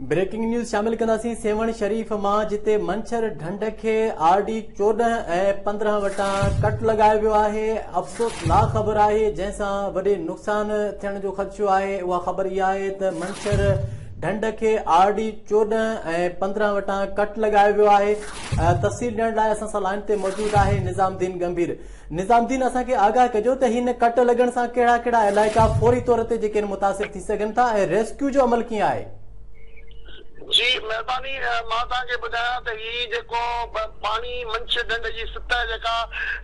Breaking news شامل ڪنداسين سيوهڻ شريف مان جتي منڇر ڍنڍ کي آر ڊي چوڏهن ۽ پندرهن وٽان ڪٽ لڳايو ويو آهي افسوس نا خبر آهي جنهن سان وڏي نقصان ٿيڻ جو خدشو آهي اها خبر اها آهي ته منڇر ڍنڍ کي آر ڊي چوڏهن ۽ پندرهن وٽان ڪٽ لڳايو ويو آهي تفصيل ڏيڻ لاء اسان سان لائن تي موجود آهي نظام الدين گمڀير نظام الدين اسان کي آگاهه ڪجو ته هن ڪٽ لڳڻ سان ڪهڙا ڪهڙا علائقا فوري طور تي جيڪين متاثر ٿي سگهن ٿا ۽ ريسڪيو جو عمل ڪيئن آهي. جي مهرباني مان توهان کي ٻڌايان ته هي جيڪو پاڻي منڇ ڍنڍ جي سطح جيڪا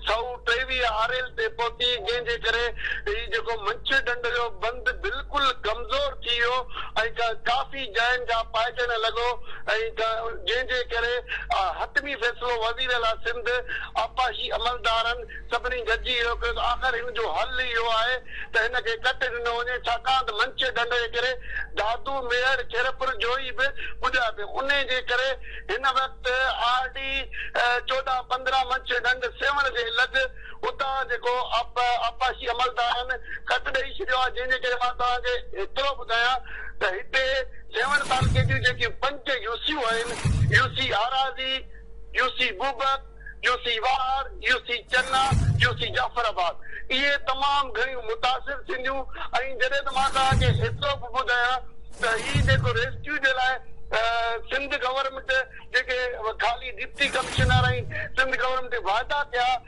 سؤ ٽيويهه آريل تي پهتي جنهن جي ڪري هي جيڪو منڇ ڍنڍ جو بند بلڪل ڪمزور ٿي ويو ۽ ڪافي جاين کان پائجڻ لڳو ۽ جنهن جي ڪري حتمي فيصلو وزيراعليٰ سنڌ آبپاشي عملدارن سڀني گڏجي اهو ڪيو ته آخر هن جو حل ئي اهو آهي ته هن کي ڪٽي ڏنو وڃي، ڇاڪاڻ ته منچي ڍنڍ جي ڪري دادو، ميڙ، خيرپور جويي به ٻڏيا پيا، انهي جي ڪري هن وقت آر ڊي چوڏهن پندرهن منچي ڍنڍ سيوهڻ جي لڳ اتان جيڪو آبپاشي عملدارن ڪٽ ڏئي ڇڏيو آهي، جنهن جي ڪري مان توهان کي ايترو ٻڌايان ته هتي سيوهڻ تعلقي جون جيڪي پنج يوسيون آهن، UC Arazi, U C Bobak, U C Wahar, U C Chana, U C Jafarabad اهي تمام گهڻيون متاثر ٿينديون ۽ جڏهن ته مان توهان کي ايترو به ٻڌايان ته هي جيڪو ريسڪيو جي لاء سنڌ گورنمينٽ جيڪي خالي ڊپٽي ڪمشنر ۽ سنڌ گورنمينٽ وعدا ڪيا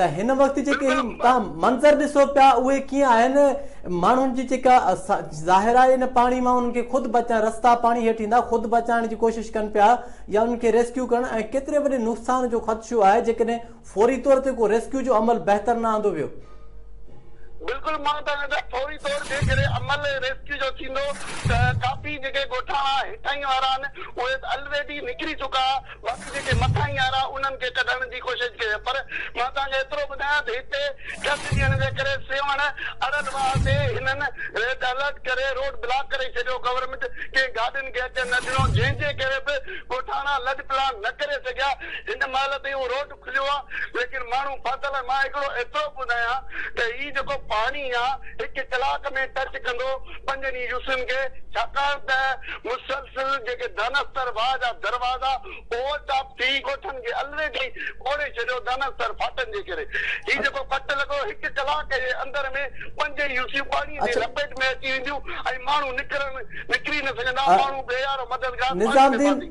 ته هن وقت جيڪي هي تهان منظر ڏسو پيا اهي ڪيئن آهن ماڻهن جي جيڪا ظاهر آهي ان پاڻي مان انهن کي خود بچائڻ رستا پاڻي هيٺ ايندا خود بچائڻ جي ڪوشش ڪن پيا يا انهن کي ريسڪيو ڪرڻ ۽ ڪيتري وڏي نقصان جو خدشو آهي جيڪڏهن فوري طور تي ڪو ريسڪيو جو عمل بهتر نه آندو ويو بلڪل مان چاهيان ٿو فوري طور جيڪڏهن عمل ريسڪيو جو ٿيندو ته ڪافي جيڪي ڳوٺاڻا هيٺاهين وارا آهن اهي الريڊي نڪري چڪا باقي جيڪي مٿاهين آرا انهن کي ڪڍڻ جي ڪوشش ڪجي پر مان توهان کي ايترو ٻڌايان ته هتي ٽن ڏينهن جي ڪري سيوهڻ ارڙ واهه تي هنن ريڊ الرٽ ڪري روڊ بلاڪ ڪري ڇڏيو گورنمينٽ ڪنهن گاڏين کي اچڻ نه ڏنو جنهن جي ڪري به ڳوٺاڻا لڏپلاڻ نه ڪري سگهيا هن مهل تائين اهو روڊ کليو آ ليڪن ماڻهو ڦاٿل آهن مان هڪڙو ايترو ٻڌايان ته هي جيڪو پاڻي آ هڪ ڪلاڪ ۾ ٽچ ڪندو پنجن ئي يوسين کي ڇاڪاڻ ته مسلسل جيڪي دانستر واهه جا دروازا اوور ٽاپ ٿي ڳوٺن کي الريڊي ٻوڙي ڇڏيو دانستر ڦاٽن جي ڪري هي جيڪو ڦٽ لڳو هڪ ڪلاڪ جي اندر ۾ پنج ئي يوسيون پاڻي جي لپيٽ ۾ اچي وينديون ۽ ماڻهو نڪرن نڪري نه سگهندا ماڻهو بي يارو مددگار پاڻي ۾ ڦاسي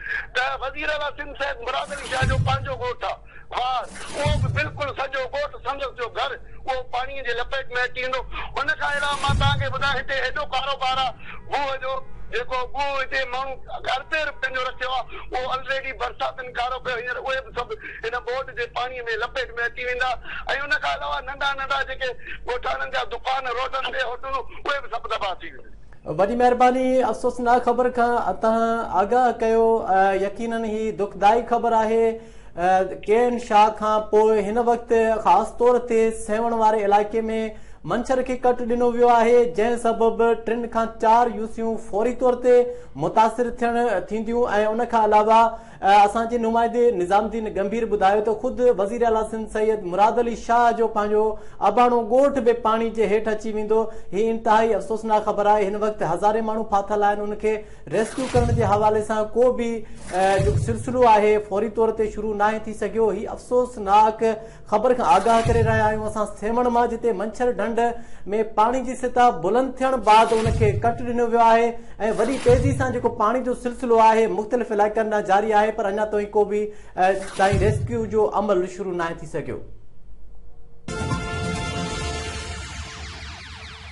ته وزير اعليٰ سنڌ سيد مراد علي شاهه جو پنهنجو ڳوٺ آ خوار، اهو به بلڪل سڄو ڳوٺ سندس جو گهر اهو پاڻيء جي لپيٽ ۾ اچي ايندو. ان کان علاوه مان توهان کي ٻڌايان هتي ايڏو ڪاروبار آ گوهه جو جيڪو گوهه هتي ماڻهو اربين رپين جو رکيو آ اهو الريڊي برساتن ڪارو ڪيو هينئر اهي به سڀ ان ٻوڏ جي پاڻيء ۾ لپيٽ ۾ اچي ويندا ۽ ان کان علاوه ننڍا ننڍا جيڪي ڳوٺاڻن جا دڪان روڊن تي هوٽلون اهي به سڀ تباهه ٿي وينديون. وڏي مهرباني افسوسناڪ خبر کان اتان آگاهه ڪيو يقينن هي دکدائي خبر آهي ڪي اين شاهه کان پوء هن وقت خاص طور تي سيوهڻ واري علائقي ۾ منڇر کي ڪٽ ڏنو ويو آهي جنهن سبب ٽن کان چار يوسيون فوري طور تي متاثر ٿيڻ ٿينديون ۽ ان کان علاوه اسان جي نمائندي نظام الدين ڳنڀير ٻڌايو ته خود وزير اعليٰ سنڌ سيد مراد علي شاهه جو پنهنجو اباڻو ڳوٺ به پاڻي جي هيٺ اچي ويندو، هي انتهائي افسوسناڪ خبر آهي، هن وقت هزارين ماڻهو ڦاٿل آهن، انهن کي ريسڪيو ڪرڻ جي حوالي سان ڪو به جيڪو سلسلو آهي فوري طور تي شروع ناهي ٿي سگهيو، هي افسوسناڪ خبر کان آگاهه ڪري رهيا آهيون اسان سيوهڻ مان جتي منڇر ڍنڍ ۾ پاڻي جي سطح بلند ٿيڻ بعد ان کي ڪٽ ڏنو ويو آهي ۽ وڏي تيزي سان جيڪو پاڻي جو سلسلو آهي مختلف علائقن ڏانهن جاري آهي پر اڃا توهين ڪو به تائين ريسڪيو جو عمل شروع ناهي ٿي سگهيو